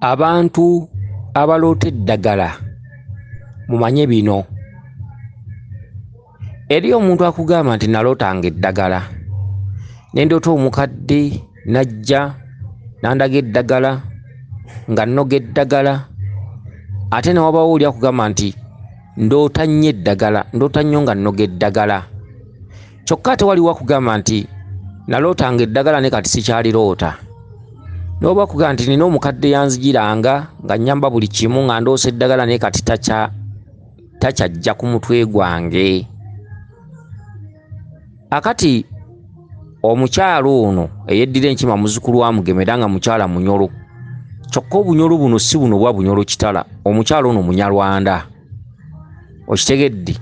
abantu abaloota eddagala mumanye bino eri omuntu akugamba nti nalootanga eddagala nendoota omukadde najja nandaga eddagala nga nnoga eddagala ate newabawo oli akugamba nti ndoota nnyo eddagala ndoota nnyo nga nnoga eddagala kyokka ate waliwo akugamba nti nalootanga eddagala ne kati sikyaliroota noba kugamba nti nina omukadde yanzijiranga nga nyamba buli kimu nga ndoosa eddagala naye kati takyajja ku mutwe gwange akati omukyalo ono eyeddira enkima muzukulu wa mugeme era nga mukyala munyolo kyokka obunyolo buno si buno bwa bunyolo kitala omukyalo ono munyarwanda okitegedde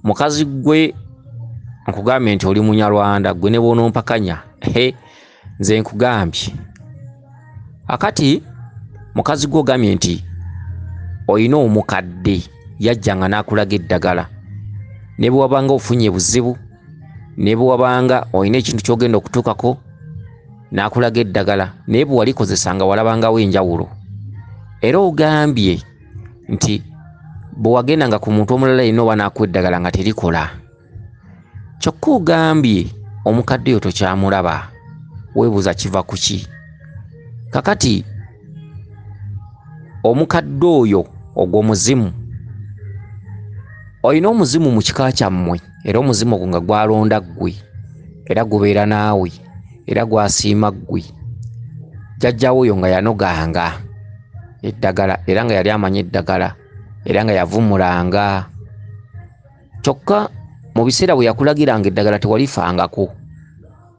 mukazi gwe nkugambye nti oli munyarwanda gwe ne bwonompakanya he nze nkugambye akati mukazi gwe ogambye nti olina omukadde yajja nga n'akulaga eddagala ne bwe wabanga ofunye buzibu ne bwe wabanga olina ekintu ky'ogenda okutuukako n'akulaga eddagala naye bwe walikozesa nga walabangawo enjawulo era ogambye nti bwewagenda nga ku muntu omulala yina oba naku eddagala nga terikola kyokka ogambye omukadde yo tokyamulaba webuuza kiva kuki kakati omukadde oyo ogwo muzimu olina omuzimu mu kika kyammwe era omuzimu ogwo nga gwalonda ggwe era gubeera naawe era gwasiima ggwe jjajjawo oyo nga yanoganga eddagala era nga yali amanyi eddagala era nga yavumulanga kyokka mu biseera bwe yakulagiranga eddagala tewalifangako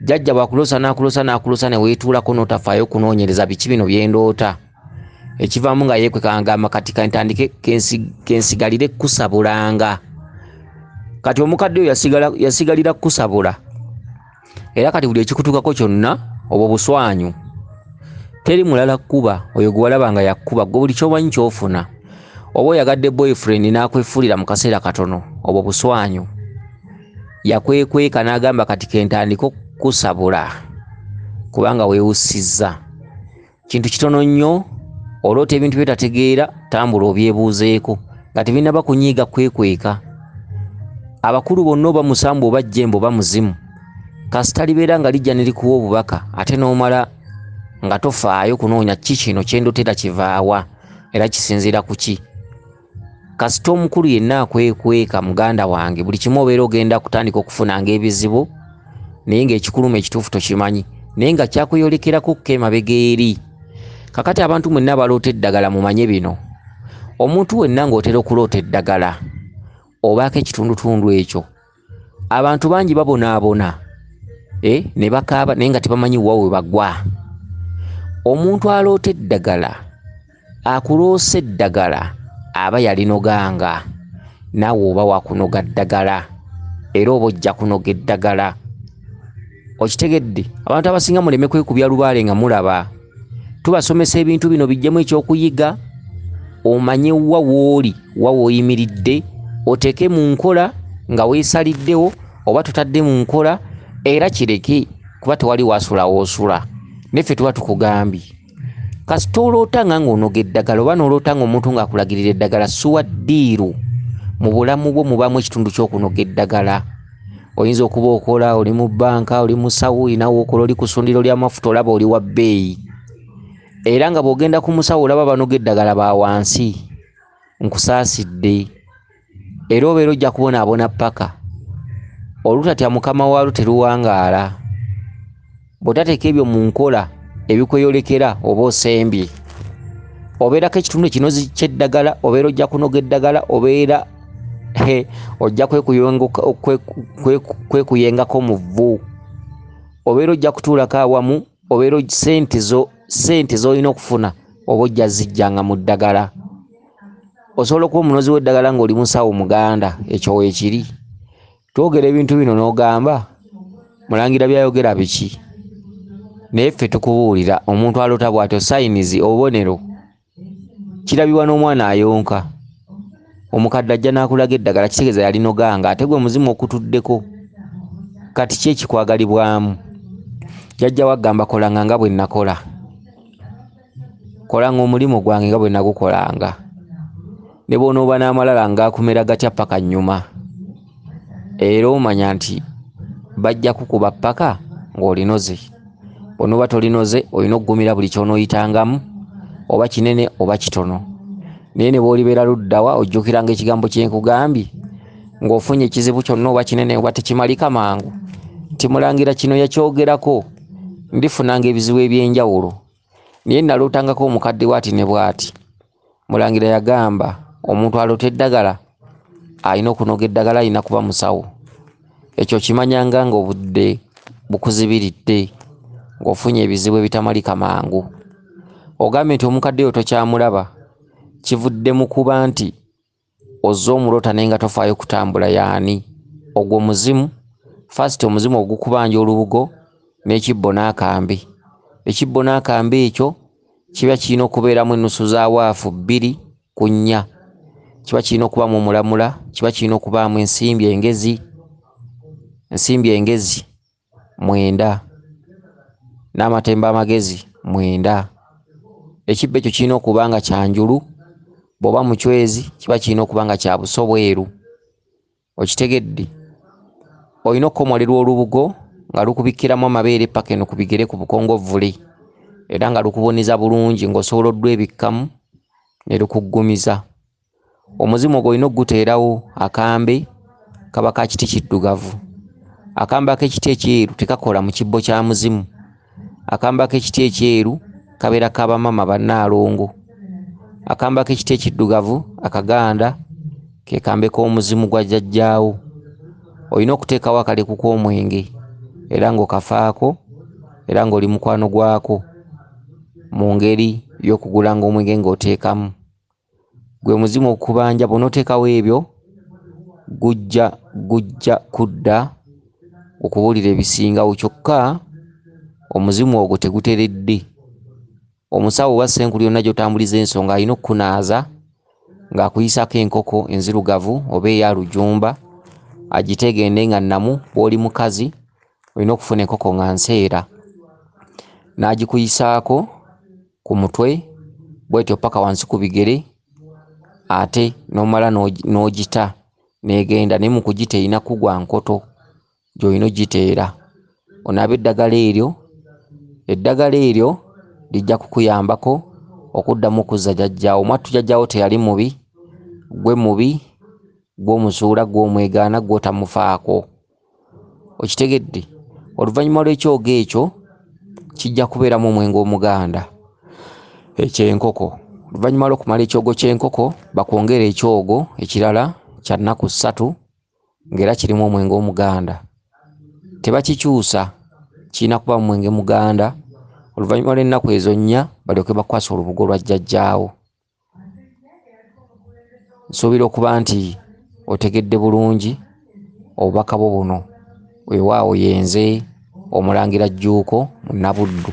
jajja bwakulosa nakulosa nakulosa newetuulako notafaayo okunoonyereza biki bino byendoota ekivaamu nga yekwekangamba kati kantandike kensigalire kusabulanga kati omukadde oyo yasigalira kukusabula era kati buli ekikutukako kyonna obwo buswanyu teri mulala kukuba oyo gwewalaba nga yakukuba gwe buli kyomanyi kyofuna oba oyagadde boyfriend nakwefulira mu kaseera katono obwo buswanyu yakwekweka n'agamba kati kentandika okukusabula kubanga weewussizza kintu kitono nnyo oloota ebintu byotategeera tambula obyebuuzeeko nga tebinaba kunyiiga kwekweka abakulu bonna oba musambu oba jjembo oba muzimu kasita libeera nga lijja ne likuwa obubaka ate n'omala nga tofaayo kunoonya ki kino kyendotera kivaawa era kisinziira ku ki kasita omukulu yenna akwekweka muganda wange buli kimu obeera ogenda kutandika okufunanga ebizibu naye ngaekikuluma ekituufu tokimanyi naye nga kyakuyolekerako okka emabega eri kakati abantu mwenna abaloota eddagala mumanye bino omuntu wenna ngaotera okuloota eddagala obaako ekitundutundu ekyo abantu bangi babonaabona eh, ne bakaaba naye nga tebamanyi wa we bagwa omuntu aloota eddagala akuloosa eddagala aba yalinoganga naawe oba wakunoga ddagala era oba ojja kunoga eddagala okitegedde abantu abasinga muleme kwekubya lubaale nga mulaba tubasomesa ebintu bino bijjemu ekyokuyiga omanye wa wooli wa woyimiridde oteeke mu nkola nga weesaliddewo oba tutadde mu nkola era kireke kuba tewali wasulawo osula neffe tuba tukugambye kasita oloota nga ng'onoga eddagala oba n'oloota ng'omuntu ng'akulagirira eddagala suwa ddiiru mu bulamu bwo mubaamu ekitundu ky'okunoga eddagala oyinza okuba okola oli mu bbanka oli musawo olina wokola oli ku sundiro ly'amafuta olaba oli wa bbeeyi era nga bw'ogenda ku musawo olaba banoga eddagala ba wansi nkusaasidde era obeera ojja kubonaabona ppaka olutatya mukama waalo teruwangaala bw'otateeka ebyo mu nkola ebikweyolekera oba osembye obeerako ekitundu ekinozi ky'eddagala obeera ojja kunoga eddagala obeera he ojja kwekuyengako mu vvu obeera ojja kutuulako awamu obeera sente zo sente z'olina okufuna oba ojja zijjanga mu ddagala osobola okuba omunozi w'eddagala ng'oli musawo muganda ekyo weekiri twogera ebintu bino n'ogamba mulangira byayogera biki naye ffe tukubuulira omuntu alota bw'atyo sayinizi obubonero kirabibwa n'omwana ayonka omukadde ajja n'akulaga eddagala kitegeeza yalinoganga ate gwe muzimu okutuddeko kati ki ekikwagalibwamu jajja waggamba kolanga nga bwe nnakola kolanga omulimu gwange nga bwe nagukolanga ne bw'onooba n'amalala ngaakumera gatya paka nnyuma era omanya nti bajja kukuba paka ng'olinoze bw'onooba tolinoze olina okugumira buli ky'onooyitangamu oba kinene oba kitono naye ne bw'olibeera luddawa ojjukiranga ekigambo kye nkugambye ng'ofunye ekizibu kyonna oba kinene oba tekimalika mangu nti mulangira kino yakyogerako ndifunanga ebizibu eby'enjawulo naye nalootangako omukadde bwati ne bwati mulangira yagamba omuntu aloota eddagala alina okunoga eddagala alina kuba musawo ekyo kimanyanga nga obudde bukuzibiridde ng'ofunye ebizibu ebitamalika mangu ogambye nti omukadde yo tokyamulaba kivudde mu kuba nti ozze omulota naye nga tofaayo kutambula yaani ogwo muzimu first omuzimu ogukubanja olubugo n'ekibbo n'akambe ekibbo n'akambe ekyo kiba kirina okubeeramu ennusu za waafu bbiri ku nnya kiba kirina okubaamu omulamula kiba kirina okubaamu ensimbi engezi ensimbi engezi mwenda n'amatembe amagezi mwenda ekibba ekyo kirina okuba nga kyanjulu bw'oba mucwezi kiba kirina okuba nga kya buso bweru okitegedde olina okukomolerwa olubugo nga lukubikkiramu amabeere paka eno ku bigere ku bukongovvule era nga lukuboneza bulungi ng'osobola oddwebikkamu ne lukuggumiza omuzimu ogwo olina okuguteerawo akambe kaba ka kiti kiddugavu akambe ak'ekiti ekyeru tekakola mu kibbo kya muzimu akambe ak'ekiti ekyeru kabeera ka bamama bannaalongo akambe ak'ekiti ekiddugavu akaganda ke kambe k'omuzimu gwa jjajjaawo olina okuteekawo akaleku k'omwenge era ng'okafaako era ng'oli mukwano gwako mu ngeri y'okugulanga omwenge ng'oteekamu Gwe muzimu okubanja bw'onoteekawo ebyo gujja gujja kudda okubuulira ebisingawo kyokka omuzimu ogwo teguteredde. Omusawo oba ssenkulu yonna gy'otambuliza ensonga alina okukunaaza ng'akuyisaako enkoko enzirugavu oba eya lujumba agiteegende nga nnamu bw'oli mukazi olina okufuna enkoko nga nseera n'agikuyisaako ku mutwe bwetyo paka wansi ku bigere ate nomala n'ogita negenda naye mu kugita erina kugwa nkoto gy'olina ogiteera onaaba eddagala eryo eddagala eryo lijja kukuyambako okuddamu okuzza jajjaawo mwattu jajjaawo teyali mubi gwe mubi gwomuzuula gwomwegaana gwotamufaako okitegedde oluvannyuma lw'ekyoga ekyo kijja kubeeramu omwenge omuganda ekyenkoko oluvannyuma lwokumala ekyogo kyenkoko bakwongera ekyogo ekirala kyannaku ssatu ngaera kirimu omwenge omuganda tebakikyusa kirina kuba mumwenge muganda oluvannyuma lw'ennaku ezo nnya balyoke bakwasa olubugo lwa jjajjaawo nsuubira okuba nti otegedde bulungi obubaka bwo buno wewaawo yenze omulangira jjuuko munabuddu